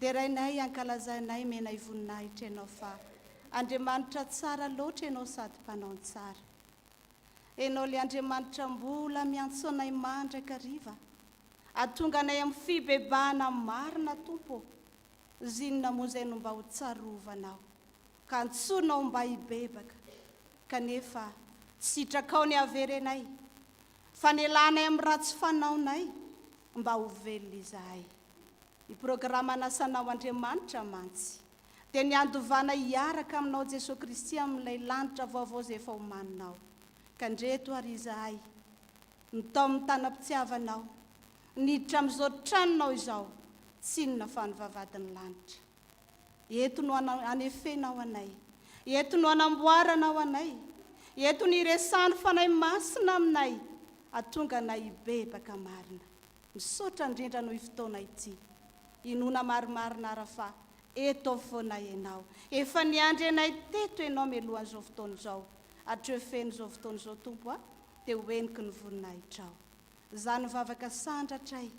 Derainay ankalazanay menay voninahitra ianao fa Andriamanitra tsara loatra ianao sady mpanao ny tsara Enao le Andriamanitra mbola miantsoanay mandrakariva atonga anay am fibebahana marina Tompo ô zinona moa zay no mba ho tsarovanao ka antsoinao mba hibebaka kanefa sitrakao ny haverenay fanelanay am ratsy fanaonay mba ho velona izahay. Ny programan'asanao Andriamanitra mantsy dia ny handovana hiaraka aminao Jesoa Kristy amin'ilay lanitra vaovao izay efa omaninao. Ka ndreto ary izahay, ny tao amin'ny tanam-pitiavanao, niditra amin'izao tranonao izao, tsinona fa ny vavahadin'ny lanitra. Eto no anefenao anay. Eto no anamboaranao anay. Eto no iresahan'ny Fanahy Masina aminay hatonga anay hibebaka marina. Misaotra indrindra noho io fotoana ity. Inoana marimarina ara fa eto foana Ianao. Efa niandry anay teto Ianao melohan'izao fotoana izao. Hatreo feno izao fotoana izao Tompo a. Dia ho heniky ny voninahitrao. Zany vavaka sandratray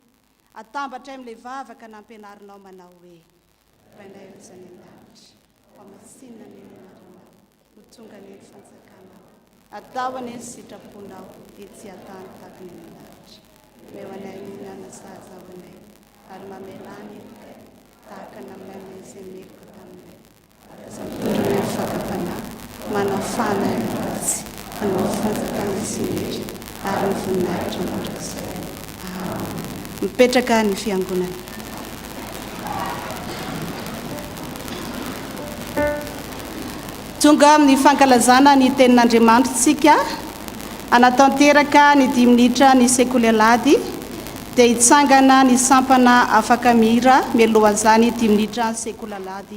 atambatray amle vavaka nampianarinao manao hoe Rainay Oza any an-danitra hamasinina anie ny anaranao ho tonga anie ny fanjakanao atao anie ny sitraponao ety an-tany takona eny an-danitra omeo anay ny hihinana sahaza ao anay ary mamelà ny heloka tahaka ny aminay mahay izay meloka taminay Ireo fakam-panahy manao fahana ny ratsy, hanao fanjakana tsy mihery, ary ny voninahitry ny mandrakizay. Amena. Mipetraka ny fiangonana. Tonga amin'ny fankalazana ny tenin'Andriamanitra isika, hanatanteraka ny dimy minitra ny Sekoly Alahady, dia hitsangana ny sampana afaka mihira mialohan'izany dimy minitra Sekoly Alahady.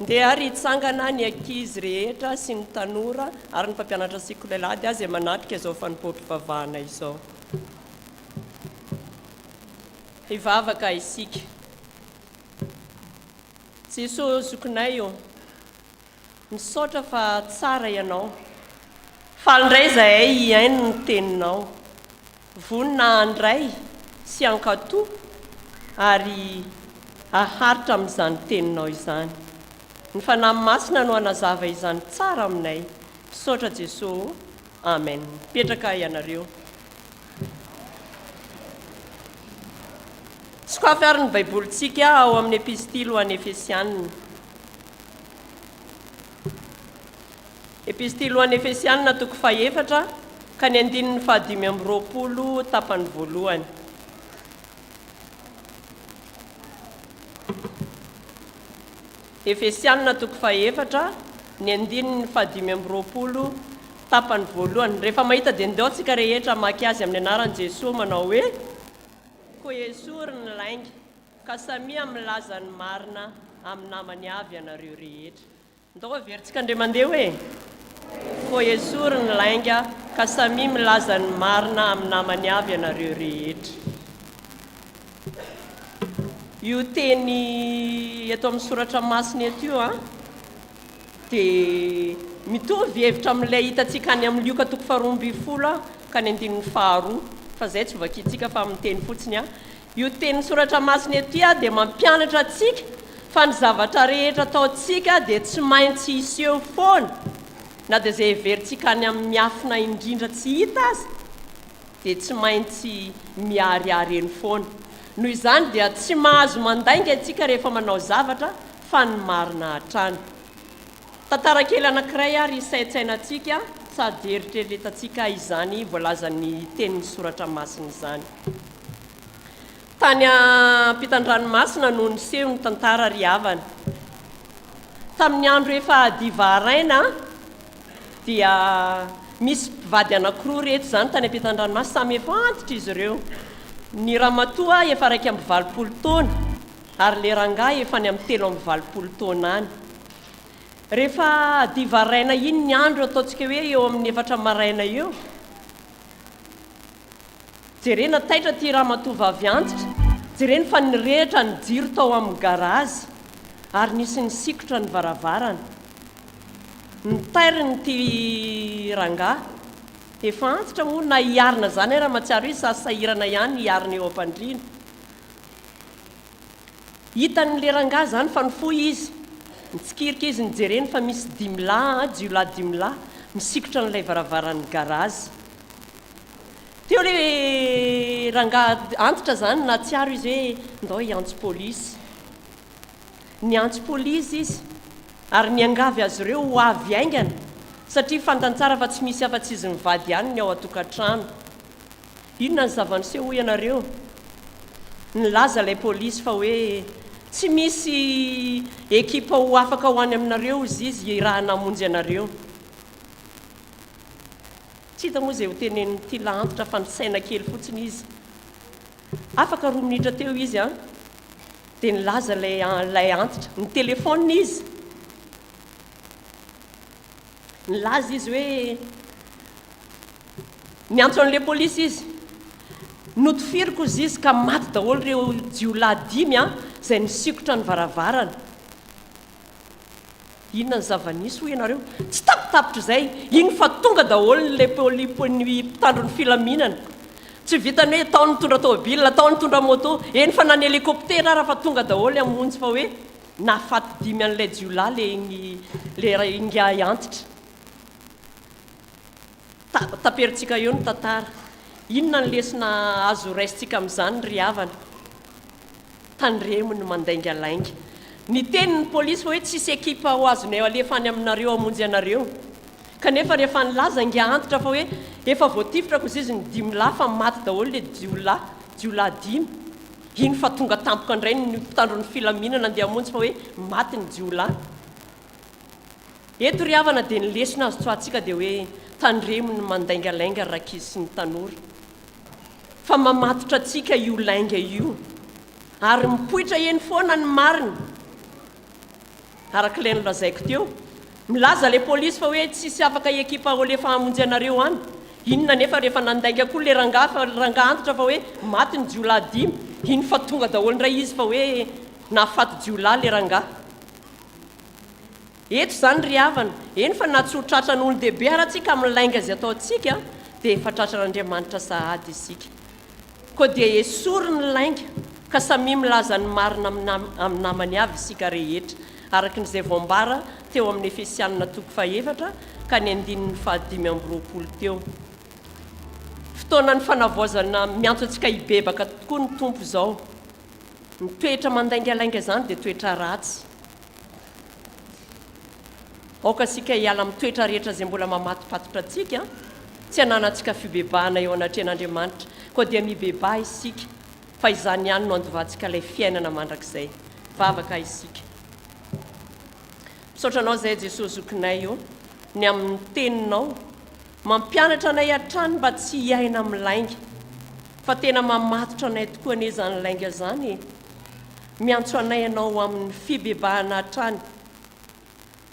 Ndeha ary hitsangana ny ankizy rehetra sy ny tanora ary ny mpampianatra sikolelady azy manatrika izao fanompoam-pivavahana izao. Hivavaka isika. Jeso zokinay ô, misaotra fa tsara Ianao. Faly indray izahay hihaino ny Teninao. Vonona handray sy hankato ary haharitra amin'izany teninao izany. Ny Fanahy Masina no hanazava izany tsara aminay. Misaotra Jeso ô! Amen. Mipetraka ianareo. Sokafy ary ny Baibolintsika ao amin'ny Epistily ho an'ny Efesianina. Epistily ho an'ny Efesianina, toko fahefatra ka ny andininy fahadimy amby roapolo, tapany voalohany. Efesianina, toko fahefatra, ny andininy fahadimy amby roapolo, tapany voalohany. Rehefa mahita dia ndao tsika rehetra hamaky azy amin'ny anaran'i Jesoa manao hoe. Koa Esory ny lainga. Ka samia milaza ny marina amin'ny namany avy ianareo rehetra. Ndao averintsika Andriamandeha hoe. Koa esory ny lainga ka samia milaza ny marina amin'ny namany avy ianareo rehetra. Io teny eto amin'ny soratra masina eto io a, dia mitovy hevitra amin'ilay hitantsika any amin'ny Lioka toko faharoa ambin'ny folo ka ny andininy faharoa, fa izay tsy hovakintsika fa amin'ny teny fotsiny a. Io tenin'ny Soratra Masina ity dia mampianatra antsika fa ny zavatra rehetra ataontsika dia tsy maintsy hiseho foana, na dia izay heverintsika any amin'ny miafina indrindra tsy hita aza dia tsy maintsy miharihary eny foana. Noho izany dia tsy mahazo mandainga isika rehefa manao zavatra fa ny marina hatrany. Tantara kely anankiray ary hisaintsainantsika sady heritreretantsika izany voalazan'ny tenin'ny Soratra Masina izany. Tany am-pitan-dranomasina no niseho ny tantara ry havana. Tamin'ny andro efa hadiva haraina dia misy mpivady anankiroa ireto izany tany am-pitan-dranomasina. Samy efa antitra izy ireo. Ny ramatoa efa iraika amby valopolo taona ary ilay rangahy efa any amin'ny telo amby valopolo taona any. Rehefa hadiva haraina iny ny andro, ataontsika hoe eo amin'ny efatra maraina eo, Jerena taitra ity ramatoa vavy antitra, jereny fa nirehitra ny jiro tao amin'ny garazy ary nisy nisikotra ny varavarana. Ny tairin'ity rangahy efa antitra moa na hiarina izany aza mahatsiaro izy sa sahirana ihany hiarina eo am-pandriana. Hitan'ilay rangahy izany fa nifoha izy, nitsikirika izy nijereny fa misy dimy lahy, jiolahy dimy lahy, misikotra an'ilay varavaran'ny garazy. Teo le rangahy antitra izany nahatsiaro izy hoe ndao hiantso polisy. Niantso polisy izy ary niangavy azy ireo ho avy haingana satria fantany tsara fa tsy misy afa-tsy izy mivady ihany ny ao an-tokantrano. Inona ny zava-niseho hoy ianareo? Nilaza ilay polisy fa hoe tsy misy ekipa ho afaka ho any aminareo hozy izy raha namonjy anareo. Tsy hita moa izay ho tenenin'ity lahantitra fa nisaina kely fotsiny izy. Afaka roa minitra teo izy an! Dia nilaza ilay ilay antitra. Nitelefaonina izy. Nilaza izy hoe niantso an'ilay polisy izy. Notifiriko hozy izy ka maty daholo ireo jiolahy dimy an! izay nisikotra ny varavarana. Inona ny zava-nisy hoy ianareo? Tsy tapitapitra izay, iny fa tonga daholo ny les polipy ny mpitandro ny filaminana. Tsy vitan'ny hoe tao ny nitondra tomobilina, tao ny nitondra moto, eny fa na ny helicoptera ara fa tonga daholo hamonjy fa hoe nahafaty dimy an'ilay jiolahy le ingahy antitra. Taperintsika eo ny tantara. Inona ny lesona azo raisintsika amin'izany ry havana? Tandremo ny mandaingalainga. Ny tenin'ny polisy hoe tsisy ekipa ho azonay alefa any aminareo hamonjy anareo. Kanefa rehefa nilaza ingahy Antitra fa hoe efa voatifitra kosa izy ny dimy lahy fa maty daholo ilay jiolahy, jiolahy dimy, iny fa tonga tampoka indray ny mpitandron'ny filaminana andeha hamonjy fa hoe maty ny jiolahy. Eto ry havana dia ny lesona azo tsoahantsika dia hoe tandremo ny mandaingalainga ry rankizy sy ny tanora fa mamatotra antsika io lainga io ary mipoitra eny foana ny marina araka ilay nolazaiko teo milaza ilay polisy fa hoe tsisy afaka ekipa olefa hamonjy anareo any inona nefa rehefa nandainga koa ilay rangahy fa rangahy antitra fa hoe maty ny jiolahy dimy iny fa tonga daholo indray izy fa hoe nahafaty jiolahy ilay rangahy Eto izany ry havana, eny fa na tsy ho tratran'olon-dehibe ara tsika amin'ny lainga izay ataontsika dia efa tratran'Andriamanitra sahady isika. Koa dia esory ny lainga ka samia milaza ny marina amin'ny namany avy isika rehetra, araka ny izay voambara teo amin'ny Efesianina toko fahefatra ka ny andininy fahadimy amby roapolo teo. Fotoanan'ny fanavaozana miantso antsika hibebaka tokoa ny Tompo izao. Ny toetra mandaingalainga izany dia toetra ratsy. Aoka isika hiala amin'ny toetra rehetra izay mbola mamatopatotra antsika, tsy hananantsika fibebahana eo anatrehan'Andriamanitra, koa dia mibebaha isika, fa izany ihany no handovantsika ilay fiainana mandrakizay. Vavaka isika. Misaotra Anao izay Jesosy Zokinay ô, ny amin'ny Teninao Mampianatra anay hatrany mba tsy hiaina amin'ny lainga. Fa tena mamatotra anay tokoa anie izany lainga izany e! Miantso anay ianao ho amin'ny fibebahana hatrany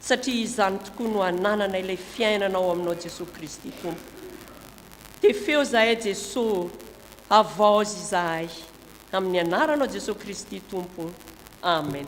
satria izany tokoa no hanananay ilay fiainana ao aminao Jesoa Kristy Tompo. Tefeo izahay Jeso ô! Havaozy izahay! Amin'ny anaranao Jesoa Kristy Tompo. Amen.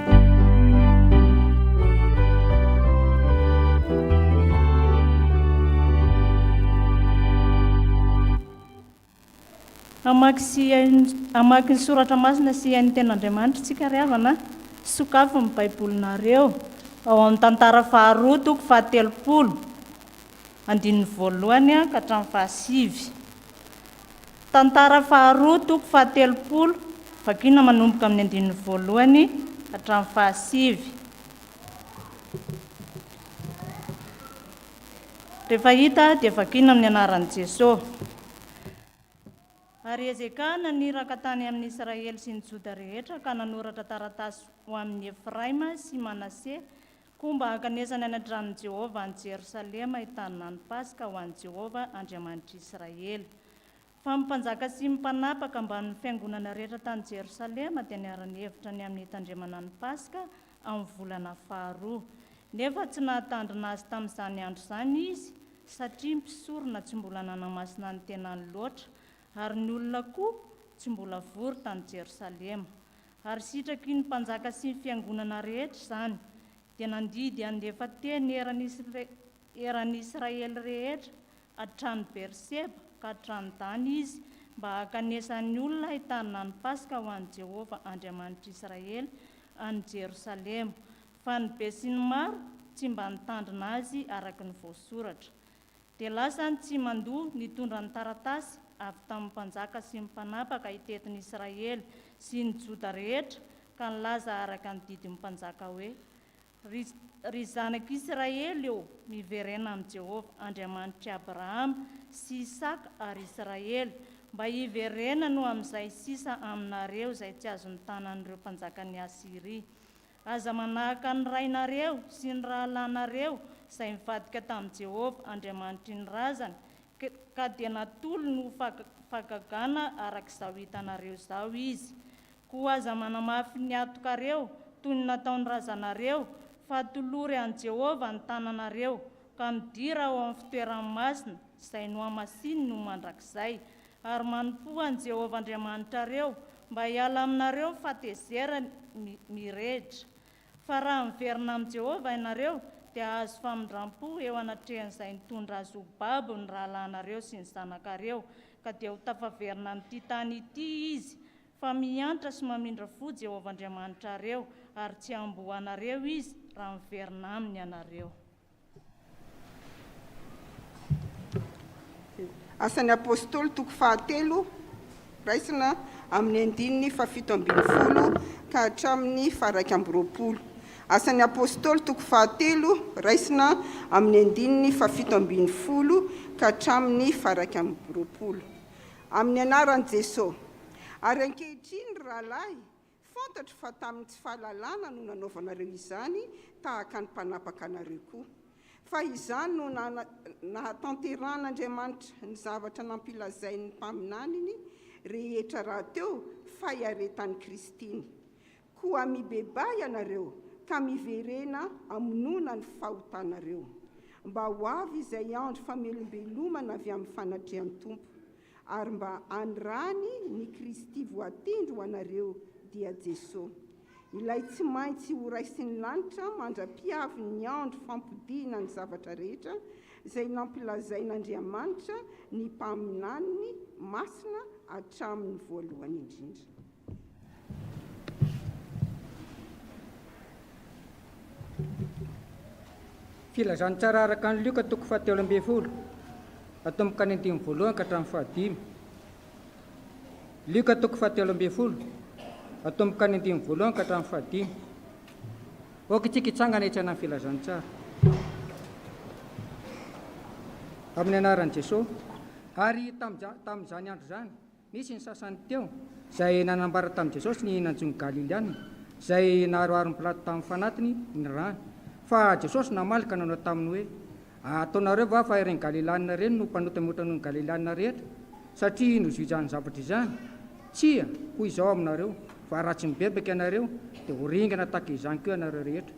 Hamaky sy hamaky ny soratra masina sy hihaino ny Tenin'Andriamanitra isika ry havana a! Sokafy ny Baibolinareo ao amin'ny Tantara faharoa toko fahatelopolo, andininy voalohany ka hatramin'ny fahasivy. Tantara faharoa, toko fahatelopolo, Vakina manomboka amin'ny andininy voalohany hatramin'ny fahasivy. Rehefa hita dia vakina amin'ny anaran'i Jesosy. Ary Hezekia naniraka tany amin'ny Israely sy ny Joda rehetra ka nanoratra taratasy ho amin'i Efraima sy Manase koa mba hankanesany any an-tranon'i Jehovah any Jerosalema hitàna ny Paska ho an'i Jehovah Andriamanitr'i Israely. Fa ny mpanjaka sy ny mpanapaka ambanin'ny fiangonana rehetra tany Jerosalema dia niara-nihevitra ny amin'ny hitandremana ny Paska amin'ny volana faharoa. Nefa tsy nahatandrina azy tamin'izany andro izany izy, satria mpisorona tsy mbola nanamasina ny tenany loatra, ary ny olona koa tsy mbola vory tany Jerosalema. Ary sitraky ny mpanjaka sy ny fiangonana rehetra izany, dia nandidy handefa teny eran'ny Israely rehetra hatrany Beerseba ka hatrany Dana izy, mba hankanesan'ny olona hitarina ny Paska ho an'i Jehovah Andriamanitr'Israely, any Jerosalema. Fa ny besinimaro tsy mba nitandrina azy araka ny voasoratra. Dia lasa ny tsimandoa nitondra ny taratasy avy tamin'ny mpanjaka sy ny mpanapaka hitety ny Israely sy ny Joda rehetra, ka nilaza araka ny didin'ny mpanjaka hoe, Ry, ry zanako Israely ô, miverena amin'i Jehovah, Andriamanitr'i Abrahama sy Isaka ary Israely, mba hiverenany ho amin'izay sisa aminareo izay tsy azon'ny tanan'ireo mpanjakan'i Asyria. Aza manahaka ny rainareo sy ny rahalahinareo izay nivadika tamin'i Jehovah, Andriamanitry ny razany, ka dia natolony ho fagagana araka izao hitanareo izao izy. Koa aza manamafy ny hatokareo, toy ny nataon'ny razanareo, fa tolory an'i Jehovah ny tananareo, ka midira ao amin'ny fitoerany masina, izay nohamasininy ho mandrakizay. Ary manompoa an'i Jehovah Andriamanitrareo, mba hiala aminareo ny fahatezerany mirehitra. Fa raha miverina amin'i Jehovah ianareo, dia hahazo famindram-po eo anatrehan'izay nitondra azy ho babo ny rahalahinareo sy ny zanakareo, ka dia ho tafaverina amin'ity tany ity izy, Fa miantra sy mamindra fo Jehovah Andriamanitrareo, ary tsy hamboanareo izy raha miverina aminy ianareo. Asan'ny Apostoly toko fahatelo, raisina amin'ny andininy fahafito ambin'ny folo ka hatramin'ny faharaika amby roapolo. Asan'ny Apostoly toko fahatelo, raisina amin'ny andininy fahafito ambin'ny folo ka hatramin'ny faharaika amby roapolo. Amin'ny anaran'i Jesoa. Ary ankehitriny, ry rahalahy, fantatro fa tamin'ny tsy fahalalana no nanaovanareo izany, tahaka ny mpanapaka anareo koa. Fa izany no nahatanterahan'Andriamanitra ny zavatra nampilazain'ny mpaminaniny rehetra rahateo, fahiaretan'i Kristy iny. Koa mibebaha ianareo ka miverena amonoana ny fahotanareo, mba ho avy izay andro famelombelomana avy amin'ny fanatrehan'ny Tompo, ary mba anirany ny Kristy voatendry ho anareo, dia Jesosy, Ilay tsy maintsy horaisin'ny lanitra mandra-pihavin'ny andro fampodiana ny zavatra rehetra, izay nampilazain'Andriamanitra ny mpaminaniny masina hatramin'ny voalohany indrindra. Filazantsara araka ny Lioka toko fahatelo ambin'ny folo, atomboka ny andininy voalohany ka hatramin'ny fahadimy. Lioka toko fahatelo ambin'ny folo, atomboka ny andininy voalohany ka hatramin'ny fahadimy. Aoka itsika hitsangana hitsana ny filazantsara. Amin'ny anaran'i Jesosy. Ary tamin'izany andro izany. Nisy ny sasany teo izay nanambara tamin'i Jesosy ny nanjo ny Galiliana izay naharoharon'i Pilato tamin'ny fanatiny ny rany. Fa Jesosy namaly ka nanao taminy hoe, Ataonareo va fa ireny Galiliana ireny no mpanota mihoatra noho ny Galiliana rehetra satria nozohizany zavatra izany? Tsia, hoy izao aminareo, fa raha tsy mibebaka ianareo, dia ho ringana tahaka izany koa ianareo rehetra.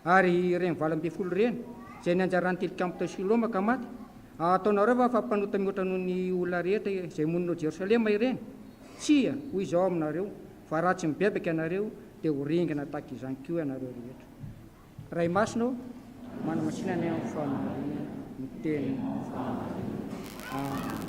Ary ireny valo ambin'ny folo ireny, izay ny anjaran'ny tilikambo tao Siloma ka maty, hataonareo va fa mpanota mihoatra noho ny olona rehetra izay monina ao Jerosalema ireny? Tsia, hoy Izy ao aminareo, fa raha tsy mibebaka ianareo, dia ho ringana tahaka izany koa ianareo rehetra. Ray Masina ô, manamasina ny amin'ny fahamarinana ny tenin'ny fahamarinana. Amena.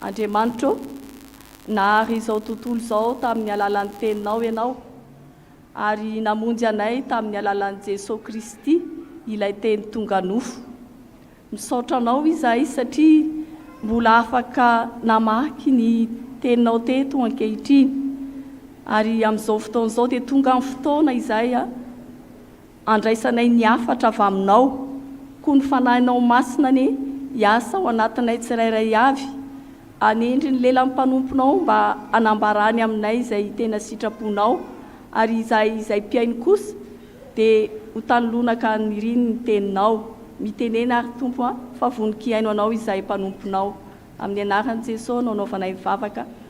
Andriamanitra ô, nahary izao tontolo izao tamin'ny alalan'ny Teninao Ianao, ary namonjy anay tamin'ny alalan'i Jesoa Kristy, ilay Teny tonga nofo. Misaotra Anao izahay satria mbola afaka namaky ny Teninao teto ankehitriny. Ary amin'izao fotoana izao dia tonga ny fotoana izahay, Andraisanay ny hafatra avy Aminao, koa ny Fanahinao Masina anie hiasa ao anatinay tsirairay avy. Hanendry ny lelan'ny mpanomponao mba hanambarany aminay izay tena sitraponao, ary izahay izay mpihaino kosa dia ho tanilonaka niriny ny Teninao. Mitenena ary Tompo a, fa vonon-kihaino Anao izahay mpanomponao. Amin'ny anaran'i Jesosy no anaovanay ny vavaka.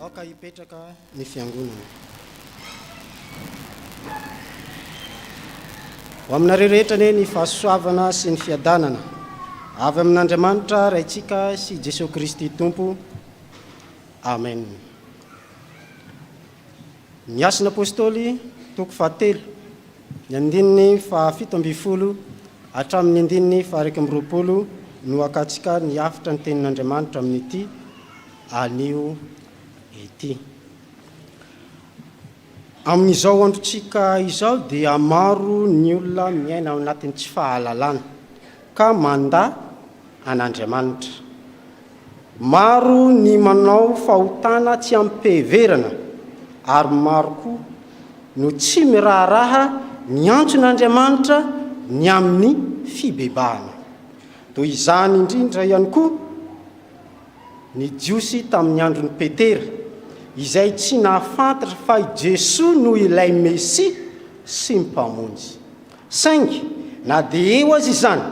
Aoka hipetraka ny fiangonana. Ho aminareo rehetra anie ny fahasoavana sy ny fiadanana avy amin'Andriamanitra Raintsika sy Jesoa Kristy Tompo. Amen. Ny Asan' Apôstôly, toko fahatelo, ny andininy fahafito ambin'ny folo hatramin' ny andininy faha-iraika amby roapolo no akatsika ny hafitra ny Tenin' Andriamanitra amin' ity anio ity. Amin' izao androntsika izao dia maro ny olona miaina ao anatin' ny tsy fahalalana. ka mandà an'Andriamanitra. Maro ny manao fahotana tsy amim-piheverana ary maro koa no tsy miraharaha miantsona Andriamanitra ny amin'ny fibebahana. Toy izany indrindra ihany koa ny Jiosy tamin'ny andron'i Petera, izay tsy nahafantatra fa i Jesoa no ilay Mesia sy Mpamonjy. Saingy na dia eo aza izany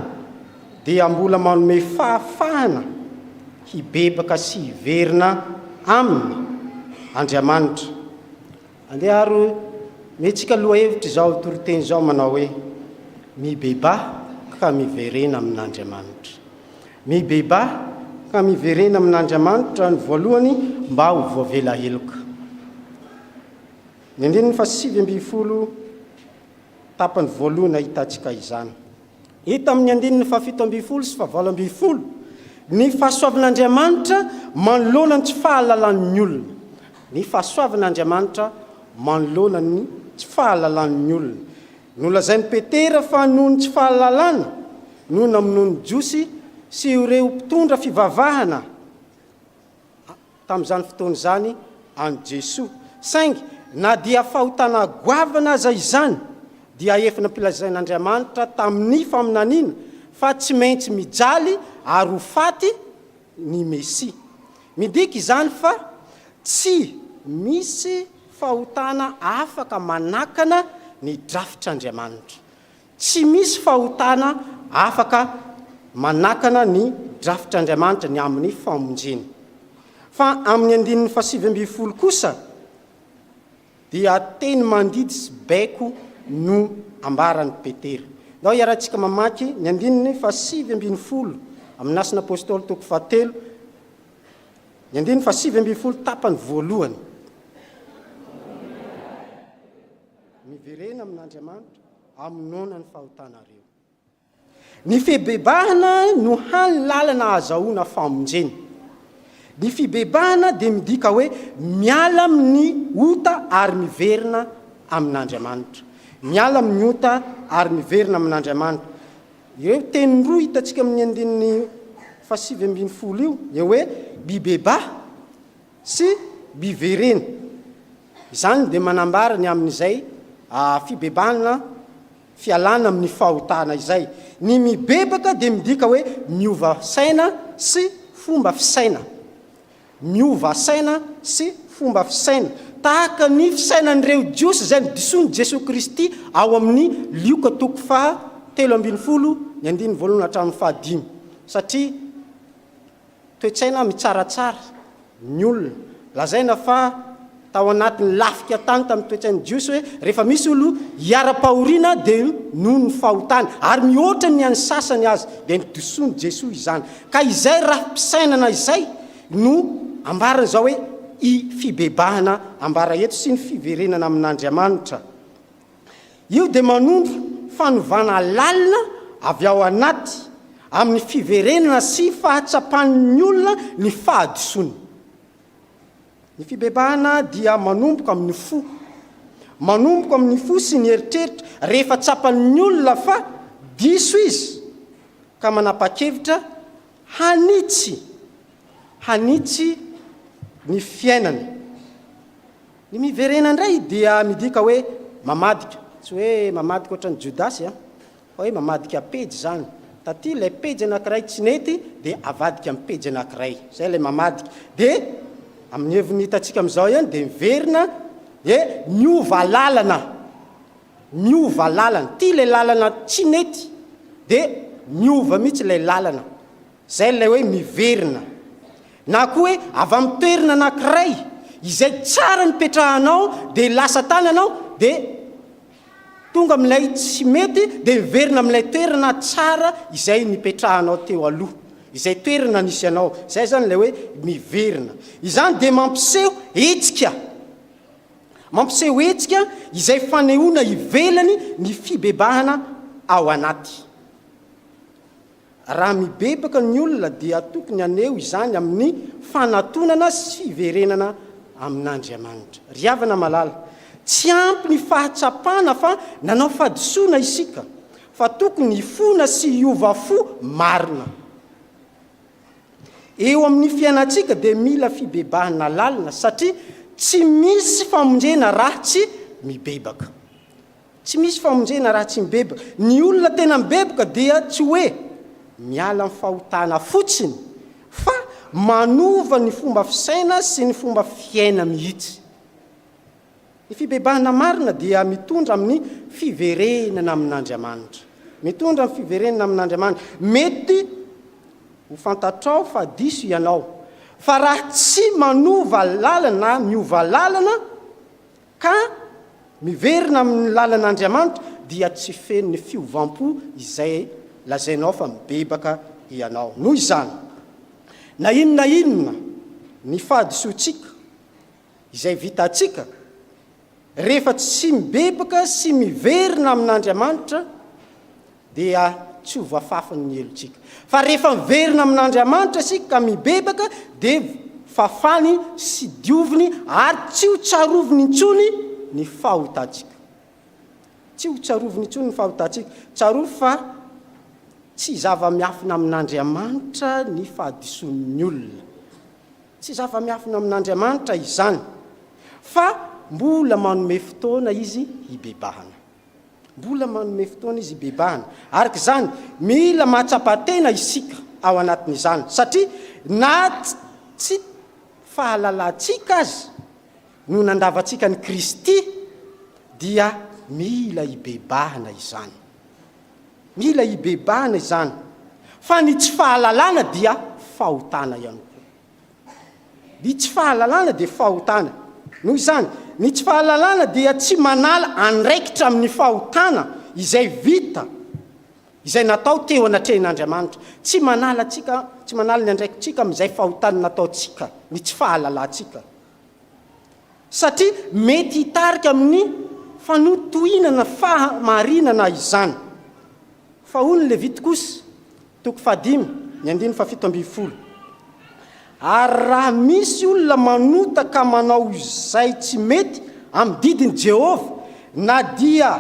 dia mbola manome fahafahana hibebaka sy hiverina Aminy Andriamanitra. Andeha ary omentsika lohahevitra izao toriteny izao manao hoe, Mibebaha ka miverena amin'Andriamanitra. Mibebaha ka miverena amin'Andriamanitra ny voalohany mba ho voavela heloka. Ny andininy fahasivy ambin'ny folo. Tapany voalohany ahitantsika izany. Hita amin'ny andininy fahafito ambin'ny folo sy fahavalo ambin'ny folo ny fahasoavan'Andriamanitra manoloana ny tsy fahalalan'ny olona. Ny fahasoavan'Andriamanitra manoloana ny tsy fahalalan'ny olona. Nolazain'i Petera fa noho ny tsy fahalalana no namonoan'ny Jiosy sy ireo mpitondra fivavahana tamin'izany fotoana izany an'i Jesoa. Saingy na dia fahotana goavana aza izany, dia efa nampilazain'Andriamanitra tamin'ny faminaniana fa tsy maintsy mijaly ary ho faty ny Mesia. Midika izany fa tsy misy fahotana afaka manakana ny drafitr'Andriamanitra. Tsy misy fahotana afaka manakana ny drafitr'Andriamanitra ny amin'ny famonjena. Fa amin'ny andininy fahasivy ambin'ny folo kosa dia teny mandidy sy baiko no ambaran'i Petera. Ndao hiarahantsika mamaky ny andininy fahasivy ambin'ny folo amin'ny Asan' ny Apôstôly toko fahatelo, ny andininy fahasivy ambin'ny folo tapany voalohany. Miverena amin'Andriamanitra. Amonoana ny fahotanareo. Ny fibebahana no hany lalana ahazahoana famonjena. Ny fibebahana dia midika hoe miala amin'ny ota ary miverina amin'Andriamanitra. Miala amin'ny ota ary miverina amin'Andriamanitra. Ireo teny roa hitantsika amin'ny andininy fahasivy ambin'ny folo io dia hoe mibebaha. sy Bivereno. Izany dia manambara ny amin'izay fibebahana fialana amin'ny fahotana izay. Ny mibebaka dia midika hoe miova saina sy fomba fisaina. Miova saina sy fomba fisaina. Tahaka ny fisainan'ireo Jiosy izay nodisoan'i Jesoa Kristy ao amin'ny Lioka toko faha telo ambin'ny folo ny andininy voalohany hatramin'ny faha dimy. Satria. Toe-tsaina mitsaratsara ny olona. Lazaina fa tao anatin'ny lafika tany tamin'ny toe-tsain'ny Jiosy hoe rehefa misy olo hiara-pahoriana dia noho ny fahotany, ary mihoatra ny an'ny sasany aza, dia nidosoan'i Jesoa izany. Ka izay rafi-pisainana izay no ambarany izao hoe i fibebahana ambara eto sy ny fiverenana amin'Andriamanitra. Io dia manondro fanovana lalina avy ao anaty amin'ny fiverenana sy fahatsapan'ny olona ny fahadisoany. Ny fibebahana dia manomboka amin'ny fo. Manomboka amin'ny fo sy ny eritreritra rehefa tsapan'ny olona fa diso izy ka manapa-kevitra hanitsy hanitsy ny fiainany. Ny miverena indray dia midika hoe mamadika, tsy hoe mamadika ohatran'i Jodasy an, fa hoe mamadika pejy izany, taty ilay pejy anankiray tsy nety dia avadika amin'ny pejy anankiray, izay ilay mamadika, dia amin'ny heviny hitantsika amin'izao ihany dia miverina dia miova lalana, miova lalana, ity ilay lalana tsy nety dia miova mihitsy ilay lalana. Izay ilay hoe miverina. Na koa hoe avy amin'ny toerana anankiray izay tsara nipetrahanao dia lasa tany ianao dia tonga amin'ilay tsy mety dia miverina amin'ilay toerana tsara izay nipetrahanao teo aloha, izay toerana nisy anao. Izay izany ilay hoe miverina. Izany dia mampiseho hetsika. Mampiseho hetsika izay fanehoana ivelany ny fibebahana ao anaty. Raha mibebaka ny olona dia tokony haneho izany amin'ny fanatonana sy fiverenana amin'Andriamanitra. Ry havana malala, tsy ampy ny fahatsapana fa nanao fahadisoana isika, fa tokony hifona sy hiova fo marina. Eo amin'ny fiainantsika dia mila fibebahana lalina satria tsy misy famonjena raha tsy mibebaka. Tsy misy famonjena raha tsy mibebaka. Ny olona tena mibebaka dia tsy hoe miala amin'ny fahotana fotsiny fa manova ny fomba fisaina sy ny fomba fiaina mihitsy. Ny fibebahana marina dia mitondra amin'ny fiverenana amin'Andriamanitra. Mitondra amin'ny fiverenana amin'Andriamanitra. Mety ho fantatrao fa diso ianao, fa raha tsy manova lalana na miova lalana ka miverina amin' ny lalan' Andriamanitra, dia tsy feno ny fiovam-po izay lazainao fa mibebaka hianao. Noho izany, na inona na inona ny fahadisoantsika izay vitantsika, rehefa tsy mibebaka sy miverina amin' Andriamanitra dia tsy ho voafafiny ny helotsika. Fa rehefa miverina amin'Andriamanitra isika ka mibebaka dia fafany sy dioviny ary tsy ho tsaroviny intsony ny fahotantsika. Tsy ho tsaroviny intsony ny fahotantsika. Tsarovy fa tsy zava-miafina amin'Andriamanitra ny fahadisoan'ny olona. Tsy zava-miafina amin'Andriamanitra izany fa mbola manome fotoana Izy hibebahana. Mbola manome fotoana izy hibebahana. Araka izany, mila mahatsapa tena isika ao anatin'izany, satria na tsy fahalalantsika aza no nandavantsika an'i Kristy, dia mila hibebahana izany. Mila hibebahana izany, fa ny tsy fahalalana dia fahotana ihany koa. Ny tsy fahalalana dia fahotana. Noho izany, ny tsy fahalalana dia tsy manala andraikitra amin'ny fahotana izay vita, izay natao teo anatrehan'Andriamanitra. Tsy manala antsika, tsy manala ny andraikitrika amin'izay fahotana nataontsika ny tsy fahalalantsika satria mety hitarika amin'ny fanotohinana fahamarinana izany. Fa hoy ny Levita kosa, toko fahadimy, ny andininy fahafito ambin'ny folo, Ary raha misy olona manota ka manao izay tsy mety amin'ny didin'i Jehovah, na dia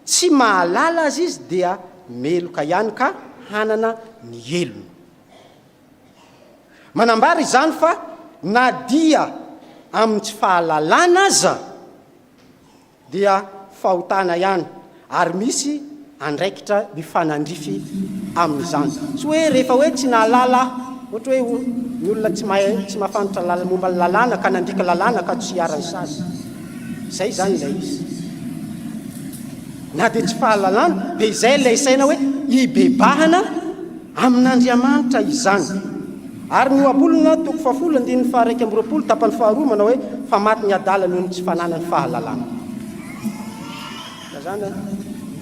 tsy mahalala aza izy, dia meloka ihany ka hanana ny helony. Manambara izany fa na dia amin'ny tsy fahalalana aza dia fahotana ihany ary misy andraikitra mifanandrify amin'izany. Tsy hoe rehefa hoe tsy nahalala ohatra hoe ny olona tsy mahay tsy mahafantatra momba ny lalàna ka nandika lalàna ka tsy iharan'ny sazy. Izay izany ilay izy. Na dia tsy fahalalana dia izay ilay saina hoe hibebahana amin'Andriamanitra izany. Ary ny ohabolana, toko fahafolo andininy faha-iraika amby roapolo, tapany faharoa, manao hoe, Fa maty ny adala noho ny tsy fananany fahalalana. Ka izany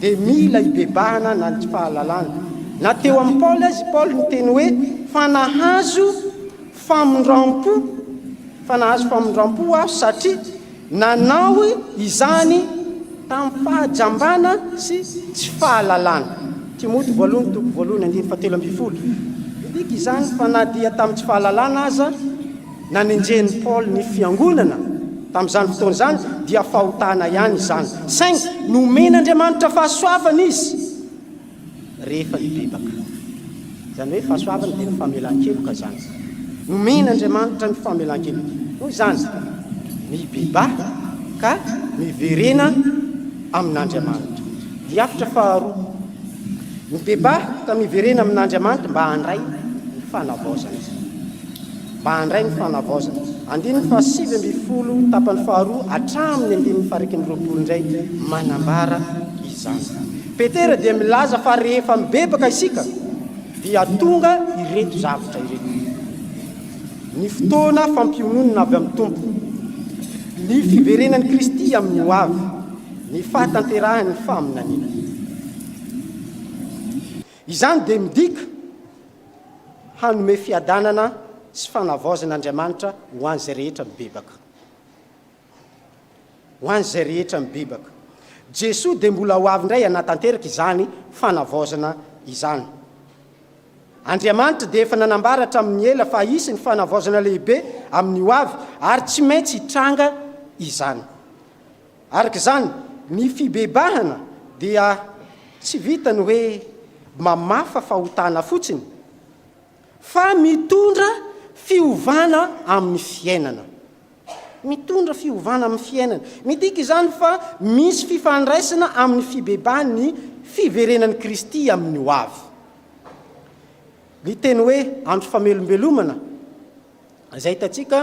dia mila hibebahana na ny tsy fahalalana. Na teo amin'i Paoly aza i Paoly niteny hoe, Fa nahazo famindram-po, fa nahazo famindram-po aho satria, Nanao izany tamim-pahajambana sy tsy fahalalana. Timoty voalohany toko voalohany andininy fahatelo ambin'ny folo. Midika izany fa na dia tamin'ny tsy fahalalana aza nanenjehin'i Paoly ny fiangonana tamin'izany fotoana izany, dia fahotana ihany izany. Saingy nomen'Andriamanitra fahasoavana izy. rehefa hibebaka. Izany hoe fahasoavana dia ny famelan-keloka izany. Nomen'Andriamanitra ny famelan-keloka, noho izany, mibebaka ka miverena amin'Andriamanitra. Diafitra faharoa, mibebaka ka miverena amin'Andriamanitra mba handray ny fanavaozana. Mba handray ny fanavaozana. Andininy fahasivy ambin'ny folo tapany faharoa hatramin'ny andininy faharaikiny roapolo indray manambara izany. Petera dia milaza fa rehefa mibebaka isika dia tonga ireto zavatra ireto, ny fotoana fampiononina avy amin'ny Tompo, ny fiverenan'i Kristy amin'ny ho avy, ny fahatanterahan'ny faminaniana. Izany dia midika hanome fiadanana sy fanavaozan'Andriamanitra ho an'izay rehetra mibebaka. ho an'izay rehetra mibebaka. Jesoa dia mbola ho avy indray hanatanteraka izany fanavaozana izany. Andriamanitra dia efa nanambara hatramin'ny ela fa hisy ny fanavaozana lehibe amin'ny ho avy ary tsy maintsy hitranga izany. Araka izany, ny fibebahana dia tsy vitan'ny hoe mamafa fahotana fotsiny Fa mitondra fiovana amin'ny fiainana. Mitondra fiovana amin'ny fiainana. Midika izany fa misy fifandraisana amin'ny fibebahan'ny fiverenan'i Kristy amin'ny hoavy. Ny teny hoe andro famelombelomana, izay hitantsika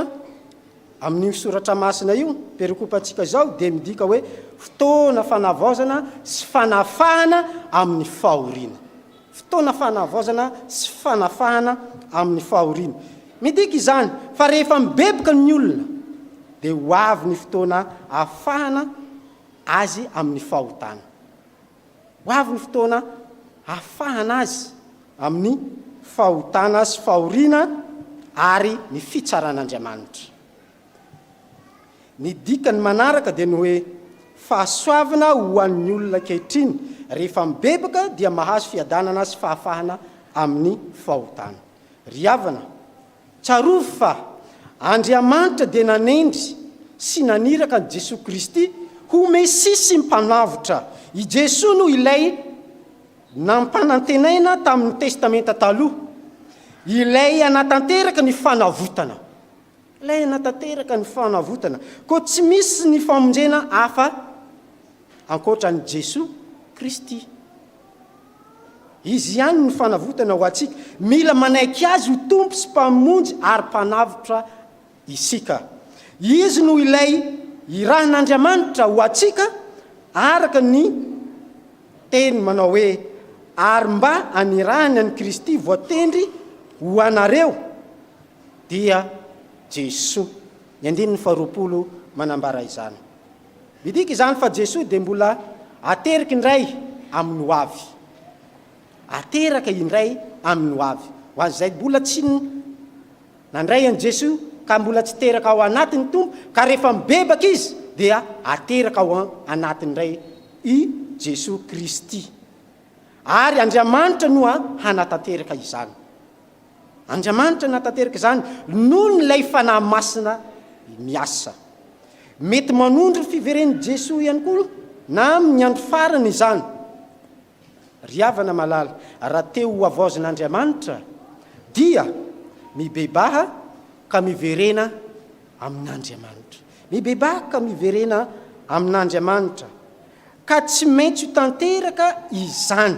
amin'io soratra masina io, perikopantsika izao, dia midika hoe fotoana fanavaozana sy fanafahana amin'ny fahoriana. Fotoana fanavaozana sy fanafahana amin'ny fahoriana. Midika izany fa rehefa mibebuka ny olona dia ho avy ny fotoana afahana azy amin'ny fahotana. Ho avy ny fotoana afahana azy amin'ny fahotana sy fahoriana ary ny fitsaran'Andriamanitra. Ny dikany manaraka dia ny hoe fahasoavana ho an'ny olona ankehitriny, rehefa mibebaka dia mahazo fiadanana sy fahafahana amin'ny fahotana. Ry havana, tsarovy fa Andriamanitra dia nanendry sy naniraka an'i Jesoa Kristy ho Mesia sy Mpanavotra. I Jesoa no ilay nampanantenaina tamin'ny Testamenta Taloha, ilay hanatanteraka ny fanavotana. Ilaina tanteraka ny fanavotana, koa tsy misy ny famonjena hafa ankoatra an'i Jesoa Kristy. Izy ihany no fanavotana ho antsika. Mila manaiky Azy ho Tompo sy Mpamonjy ary Mpanavotra isika. Izy no ilay irahan'Andriamanitra ho antsika araka ny Teny manao hoe, Ary mba anirahany an'i Kristy voatendry ho anareo. Dia Jesoa. Ny andininy faharoapolo manambara izany. Midika izany fa Jesoa dia mbola ateriky indray amin'ny ho avy. Ateraka indray amin'ny ho avy. Ho an'izay mbola tsy nandray an'i Jesoa ka mbola tsy teraka ao anatin'ny Tompo, ka rehefa mibebaka izy dia ateraka ao anatiny indray i Jesoa Kristy. Ary Andriamanitra no hanatanteraka izany. Andriamanitra nanatanteraka izany noho ny ilay Fanahy Masina miasa. Mety manondro ny fiveren'i Jesoa ihany koa na amin'ny andro farany izany. Ry havana malala, raha te ho havaozin'Andriamanitra dia mibebaha ka miverena amin'Andriamanitra. Mibebaha ka miverena amin'Andriamanitra. Ka tsy maintsy ho tanteraka izany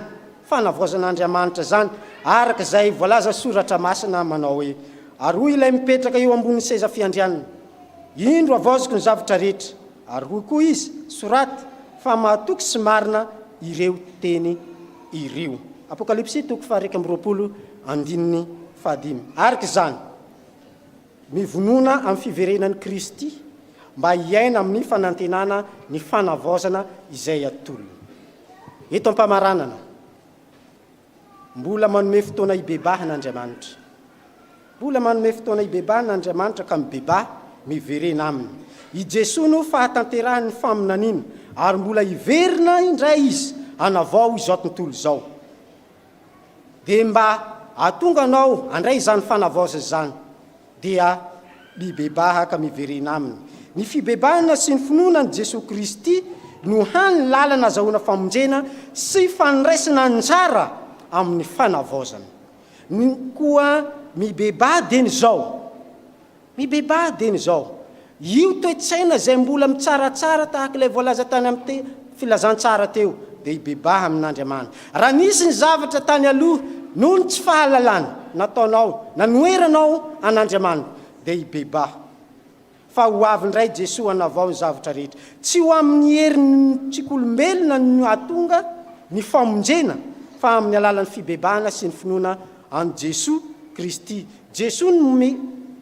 fanavaozan'Andriamanitra izany, araka izay voalazan'ny Soratra Masina manao hoe, Ary hoy Ilay mipetraka eo ambonin'ny seza fiandrianana, Indro havaoziko ny zavatra rehetra. Ary hoy koa Izy, Soraty fa mahatoky sy marina ireo teny ireo. Apokalypsy toko faha iraika amby roapolo, andininy fahadimy. Araka izany. Mivonona amin'ny fiverenan'i Kristy mba hiaina amin'ny fanantenana ny fanavaozana izay atolony. Eto am-pamaranana, mbola manome fotoana hibebahana Andriamanitra. Mbola manome fotoana hibebahana Andriamanitra ka mibebaha, miverena Aminy. I Jesoa no fahatanterahan'ny faminaniana, ary mbola hiverina indray Izy hanavao izao tontolo izao. Dia mba atonga anao handray izany fanavaozana izany, dia mibebaha ka miverena aminy. Ny fibebahana sy ny finoana an'i Jesoa Kristy no hany lalana azahoana famonjena sy fandraisana anjara amin'ny fanavaozana. Ny koa mibebaha dieny izao, Mibebaha dieny izao io toe-tsaina izay mbola mitsaratsara tahaka ilay voalaza tany amin'ny filazantsara teo dia hibebaha amin'Andriamani. Raha nisy ny zavatra tany aloha noho ny tsy fahalalana nataonao nanoheranao an'Andriamani dia hibebaha fa ho avy indray Jesoa hanavao ny zavatra rehetra. Tsy ho amin'ny herin'ny tsikolombelona no hahatonga ny famonjena fa amin'ny alalan'ny fibebahana sy ny finoana an'i Jesoa Kristy. Jesoa no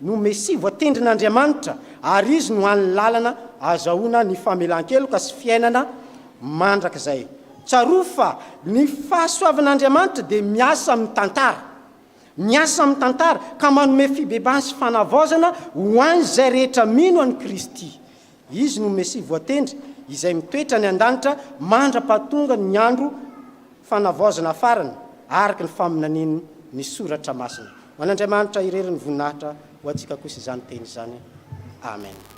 no Mesia voatendrin'Andriamanitra ary Izy no hany lalana azahoana ny famelan-keloka sy fiainana mandrakizay. Tsarovy fa ny fahasoavan'Andriamanitra dia miasa amin'ny tantara. Miasa amin'ny tantara ka manome fibebahana sy fanavaozana ho an'izay rehetra mino an'i Kristy. Izy no Mesia voatendry izay mitoetra any an-danitra mandra-pahatongan' ny andro fanavaozana farany, araka ny faminanin' ny Soratra Masina. Ho an' Andriamanitra irery ny voninahitra, ho antsika kosa izany teny izany. Amena.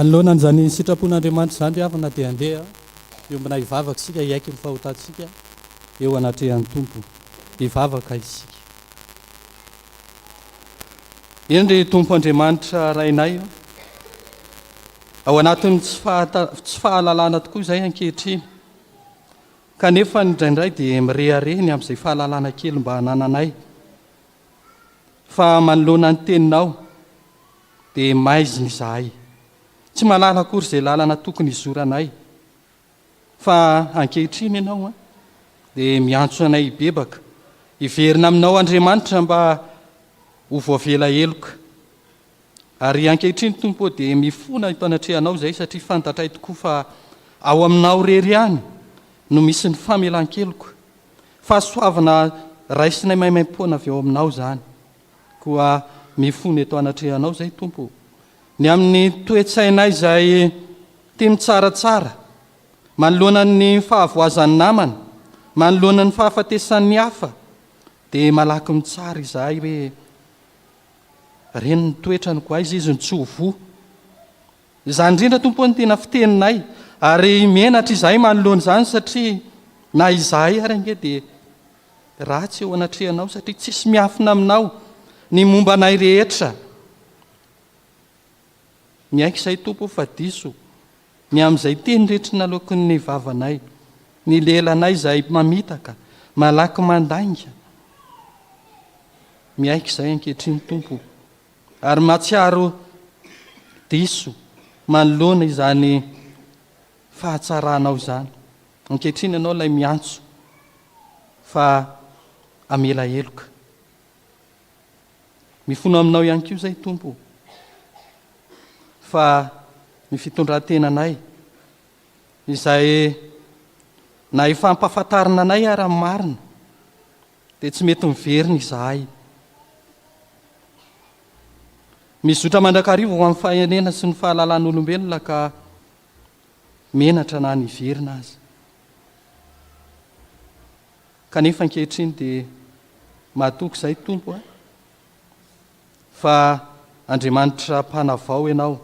Manoloana an'izany sitrapon'Andriamanitra izany ry havana dia andeha hiombona hivavaka isika hiaiky ny fahotantsika eo anatrehan'ny Tompo. Hivavaka isika. Eny ry Tompo Andriamanitra Rainay ô, ao anatin'ny tsy fahata, tsy fahalalana tokoa izay ankehitriny, kanefa ny draindray dia mirehareha ny amin'izay fahalalana kely mba anananay, fa manoloana ny teninao dia maizina izahay, tsy malala akory izay lalana tokony hizoranay, Fa ankehitriny ianao dia miantso anay hibebaka, hiverina aminao Andriamanitra mba ho voavela heloka. Ary ankehitriny Tompo ô dia mifona eto anatrehanao izahay satria fantatray tokoa fa ao aminao irery ihany no misy ny famelan-keloka. Fahasoavana raisinay maimaim-poana avy ao aminao izany. Koa mifono eto anatrehanao izay Tompo o. Ny amin'ny toe-tsainay izay tia mitsaratsara, manoloana ny fahavoazan'ny namana, manoloana ny fahafatesan'ny hafa, dia malaky mitsara izahay hoe ren'ny toetrany koa aiza izy no tsy ho voa. Izany indrindra Tompo no tena fiteninay ary menatra izahay manoloana izany satria na izahay ary ange dia Ratsy eo anatrehanao satria tsisy miafina aminao ny momba anay rehetra. Miaiky izay Tompo o fa diso ny amin'izay teny rehetra naloaky ny vavanay, ny lelanay izay mamitaka, malaky mandainga. Miaiky izay ankehitriny Tompo ary matsiaro diso manoloana izany fahatsaranao izany. Ankehitriny ianao ilay miantso fa hamela heloka. Mifono aminao ihany koa izay Tompo fa ny fitondran-tenanay izay na efa ampahafantarina anay ara ny marina dia tsy mety miverina izahay. Mizotra mandrakariva ho amin'ny fahenena sy ny fahalalan'olombelona ka menatra na niverina aza. Kanefa ankehitriny dia mahatoky izay Tompo a, fa Andriamanitra mpanavao ianao,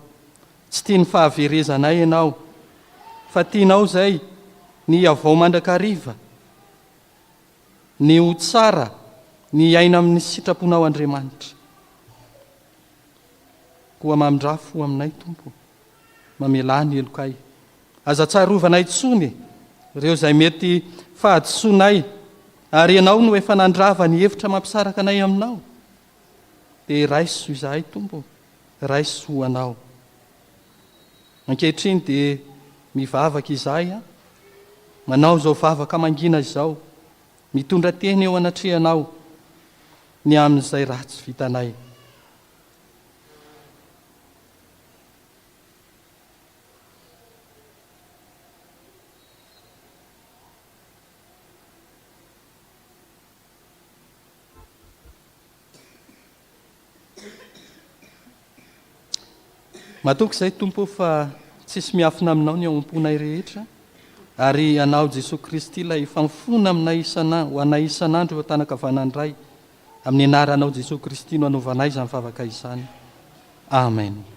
tsy tia ny fahaverezanay ianao, fa tianao izay ny hiavao mandrakariva, ny ho tsara, ny hiaina amin'ny sitraponao Andriamanitra. Koa mamindrafo ho aminay Tompo. Mamelà ny helokay. Aza tsarovana intsony ireo izay mety fahadisoanay, ary Ianao no efa nandrava ny hevitra mampisaraka anay Aminao. Dia raiso izahay, Tompo, raiso ho Anao. Ankehitriny dia mivavaka izahay, an, manao izao vavaka mangina izao, mitondra teny eo anatrehanao ny amin'izay ratsy vitanay. Matoky izay Tompo fa tsisy miafina aminao ny ao am-ponay rehetra ary anao Jesoa Kristy ilay fanfona aminay isan'andro ho anay isan'andro eo an-tanakavanan'ny Ray Amin'ny anaranao Jesoa Kristy no anaovanay izany vavaka izany. Amen.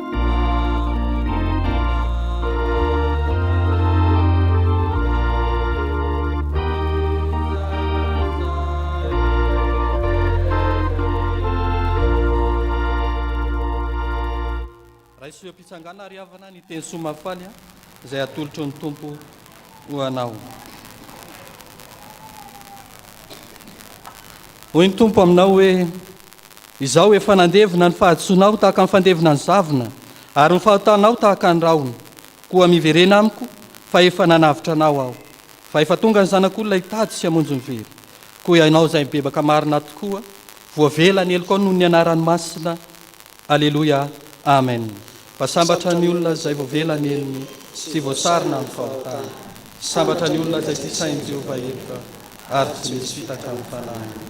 Raisoam-pitsangana ary havana ny teny soa mahafaly izay atolotry ny Tompo ho anao. Hoy ny Tompo aminao hoe Izao efa nandevina ny fahadisoanao tahaka ny fandevina ny zavona, ary ny fahotanao tahaka ny rahona. Koa miverena amiko, fa efa nanavotra anao aho. Fa efa tonga ny Zanak'olona hitady sy hamonjy ny very. Koa ianao izay mibebaka marina tokoa, voavela ny helokao noho ny anarany masina. Aleloia. Amen. Fa sambatra ny olona izay voavela ny helony sy voasarona amin'ny fahotany. Sambatra ny olona izay tsy sahin'i Jehovah heloka ary tsy misy fitaka amin'ny fanahiny.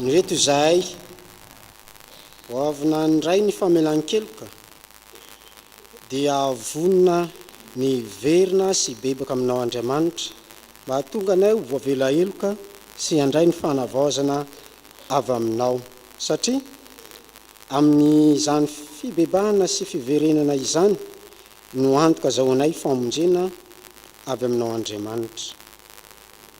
Ny reto izahay, ho avy nandray ny famelan-keloka, dia vonona ny hiverina sy hibebaka aminao Andriamanitra, mba hahatonga anay ho voavela heloka sy handray ny fanavaozana avy aminao, satria amin'izany fibebahana sy fiverenana izany no antoka azahoanay famonjena avy aminao Andriamanitra.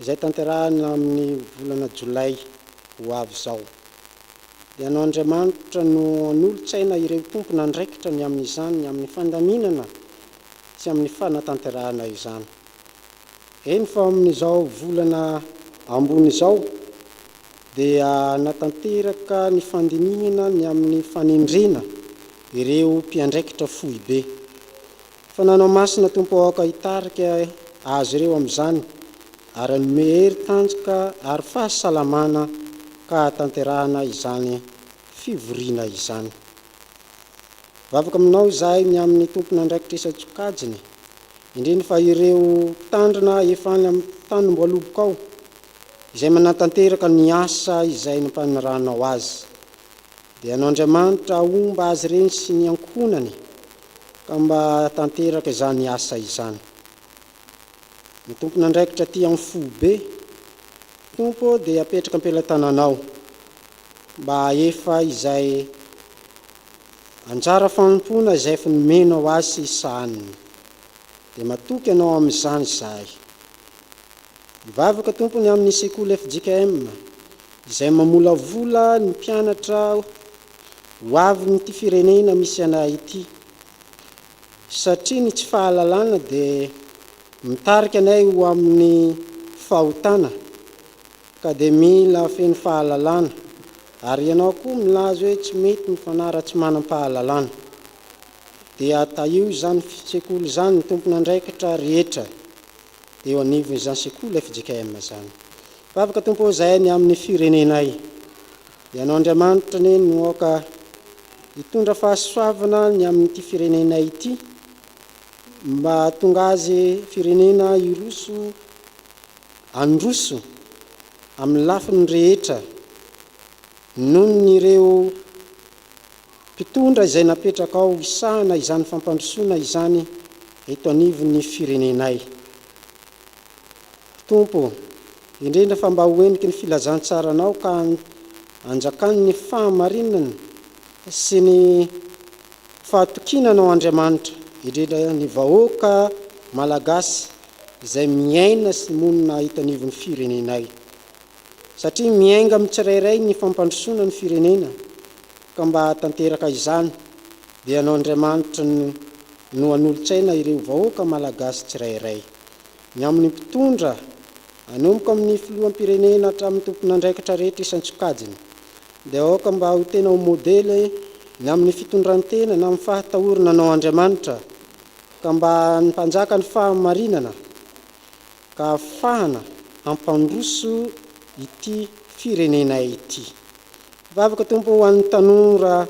izay tanterahina amin'ny volana jolay ho avy izao. Ianao Andriamanitra no hanolo-tsaina ireo tompon'andraikitra ny amin'izany amin'ny fandaminana sy amin'ny fanatanterahana izany. Eny fa amin'izao volana ambony izao dia hanatanteraka ny fandinihana ny amin'ny fanendrena ireo mpiandraikitra foibe. Fananao Masina Tompo ao aoka hitarika azy ireo amin'izany ary hanome hery tanjoka ary fahasalamana ka hahatanterahana izany fivoriana izany. Mivavaka aminao izahay ny amin'ny tompon'andraikitra isan-tsokajiny indrindra fa ireo mpitandrina efa any amin'ny tanim-boalobokao izay manatanteraka ny asa izay nampaniranao azy. Dia anao Andriamanitra ahomba azy ireny sy ny ankohonany Ka mba tanteraka izany asa izany. Ny tompon'andraikitra aty amin'ny foibe, Tompo ô, dia apetraka am-pelatananao mba hahefa izay anjara fanompoana izay efa nomenao azy sy ny sahaniny. Dia matoky Anao amin'izany izahay. Mivavaka, Tompo, ny amin'ny sekoly fjkm izay mamolavola ny mpianatra ho avin'ity firenena misy anay ity satria ny tsy fahalalana dia mitarika anay ho amin'ny fahotana ka dia mila feno fahalalana ary ianao koa milaza hoe tsy mety ny fanahy raha tsy manam-pahalalana dia tahio izany sekoly izany ny tompon'andraikitra rehetra eo anivon izany sekoly fjkm izany. Vavaka Tompo ô zahay ny aminy firenenay. Ianao Andriamanitra anie no aoka hitondra fahasoavana ny amin ity firenenay ity mba hahatonga azy firenena hiroso handroso amin lafiny rehetra noho ny ireo Mpitondra izay napetrakao hisahana izany fampandrosoana izany eto anivon'ny firenenay. Tompo, indrindra fa mba ho heniky ny filazantsaranao ka anjakan'ny fahamarinana sy ny fahatokinanao Andriamanitra indrindra ny vahoaka Malagasy izay miaina sy monina eto anivon'ny firenenay. satria miainga amin'ny tsirairay ny fampandrosoana ny firenena ka mba hahatanteraka izany dia anao Andriamanitra no no hanolotsaina ireo vahoaka Malagasy tsirairay. Ny amin'ny mpitondra, anomboka amin'ny filoham-pirenena hatramin'ny tompon'andraikitra rehetra isan-tsokajiny dia aoka mba ho tena ho modely ny amin'ny fitondran-tena na amin'ny fahatahorana anao Andriamanitra ka mba ny mpanjaka ny fahamarinana ka hahafahana hampandroso ity firenenay ity. Mpivavaka Tompo ho an'ny tanora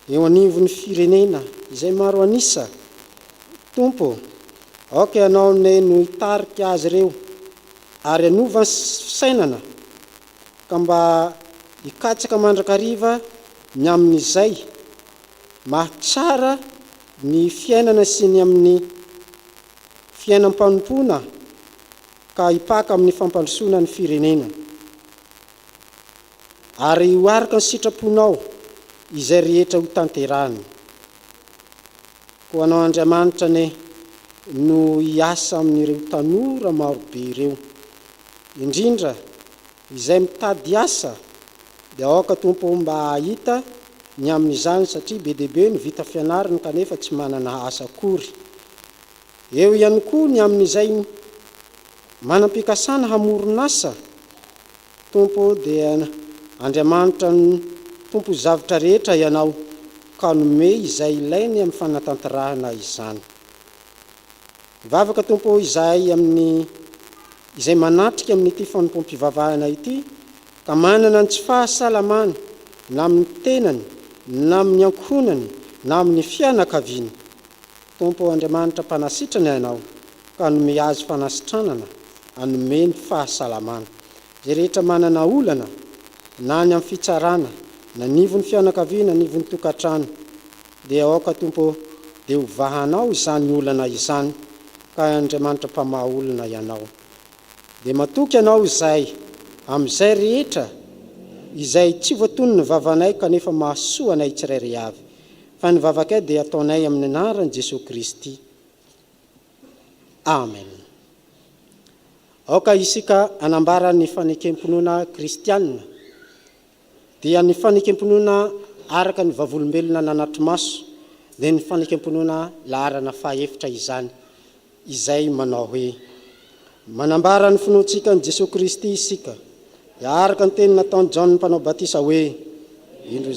eo anivon'ny firenena izay maro an'isa Tompo ô, aoka Ianao anie no hitarika azy ireo ary hanova ny fisainana ka mba hikatsaka mandrakariva ny amin'izay mahatsara ny fiainana sy ny amin'ny fiainam-panompoana ka hipaka amin'ny fampandrosoana ny firenena. Ary ho araka ny sitraponao izay rehetra ho tanterahiny. Ho anao Andriamanitra anie no hiasa amin'ireo tanora marobe ireo, indrindra Izay mitady asa dia aoka Tompo oh mba hahita ny amin'izany satria be dia be ny vita fianarana kanefa tsy manana asa akory. Eo ihany koa ny amin'izay manam-pikasana hamoron'asa Tompo oh dia Andriamanitra ny Tompo ny zavtra rehetra Ianao ka nomey izay ilainy amin'ny fanatanterahana izany. Mivavaka Tompo ô izahay amin'ny izay manatrika amin'ity fanompoam-pivavahana ity ka manana ny tsy fahasalamana na amin'ny tenany na amin'ny ankohonany na amin'ny fianakaviany. Tompo ô Andriamanitra mpanasitrana Ianao ka anome azy fanasitranana anome ny fahasalamana. Izay rehetra manana olana na any amin'ny fitsarana na anivon'ny fianakaviana anivon'ny tokantrano. Dia aoka, Tompo ô, dia ho vahanao izany olana izany, ka Andriamanitra Mpamaha olona Ianao. Dia matoky Anao izay, amin'izay rehetra, izay tsy voatonin'ny vavanay kanefa mahasoa anay tsirairay avy, fa ny vavakay dia ataonay amin'ny anaran'i Jesoa Kristy. Amen. Aoka isika hanambara ny fanekem-pinoana kristiana dia ny fanekempinoana araka ny vavolombelona nanatri-maso, dia ny fanekempinoana laharana fahaefitra izany, izay manao hoe, Manambara ny finoantsika an'i Jesoa Kristy isika, dia araka ny teny nataon'i Jaona Mpanao Batisa hoe, Indro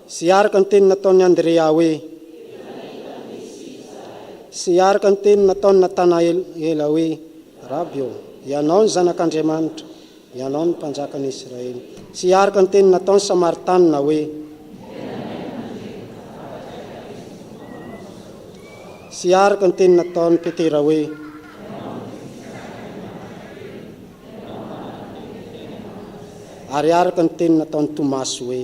sy araka ny teny nataon'i Andrea hoe, sy araka ny teny nataon'i Natanaela hoe, Raby ô, Ianao ny Zanak'Andriamanitra, Ianao ny Mpanjakan'i Israely. Tsy hiaraka ny teny nataon'i Samaritanina hoe. Tsy hiaraka ny teny nataon'i Petera hoe. Ary hiaraka ny teny nataon'i Tomasy hoe.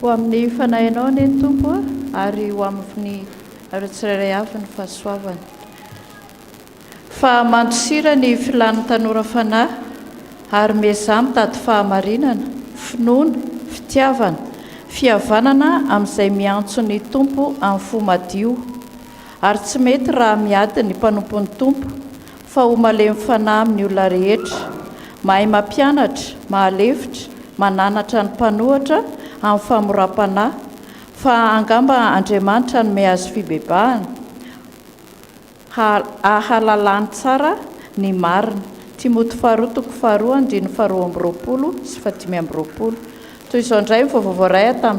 Ho amin'ny fanahinao anie ny Tompo ary ho amin'ny tsirairay avy ny fahasoavany. Fa mandosira ny filan'ny tanora fanahy ary miezaha mitady fahamarinana, finoana, fitiavana, fihavanana amin'izay miantso ny Tompo amin'ny fo madio. Ary tsy mety raha miady ny mpanompon'ny Tompo. Fa ho malemy fanahy amin'ny olona rehetra, mahay mampianatra, mahalefitra, mananatra ny mpanohatra amin'ny famoram-panahy, fa angamba Andriamanitra hanome azy fibebahana, ha, ahalalany tsara ny marina. Timoty faharoa toko faharoa andininy faharoa amby roapolo sy fahadimy amby roapolo. Toy izao indray ny vaovao voaray tamin'ny.